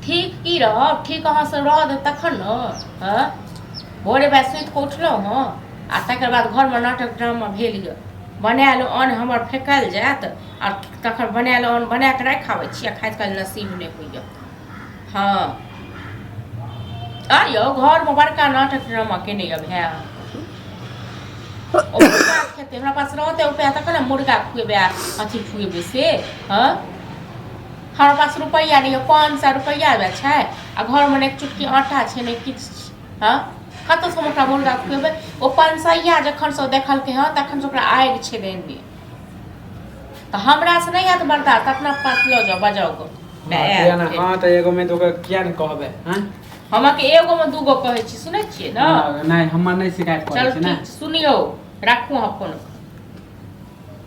ठीक की रहब ठीक अहाँसँ रह दे तखन ने हँ भोरे भाइ सुति कऽ उठलहुँ हँ आ तकर बाद घरमे नाटक ड्रामा भेल यऽ बनायल अन्न हमर फेकल जायत आ तखन बनायल अन्न बना कऽ राखि आबै छी आ खाइत काल नसीब नहि होइए हँ आ यौ घरमे बड़का नाटक ड्रामा केने यऽ भाय खेतै हमरा पास रहतै उपाय तखन ने मुर्गा खुएबै अथी खुएबै से हँ हर पास रुपैआ नहि यऽ पाँच सए रुपैआ यऽ छै आ घरमे नहि चुटकी आटा छै नहि किछु छै हँ कतऽ से हम ओकरा मुर्गा खुएबै ओ पाँच सए यऽ जखन से ओ देखलकै हँ तखन से ओकरा आगि छै देने तऽ हमरा से नहि हैत बर्दाश्त अपना पास लऽ जाउ बजाउ गो माँ, किया ने हँ तऽ एगो मे दूगो किया ने कहबै हँ हम अहाँके एगो मे दूगो कहै छी सुनै छियै ने हँ, नहि हमर नहि शिकायत करै चल छै ने ठीक सुनियौ राखू अहाँ फोन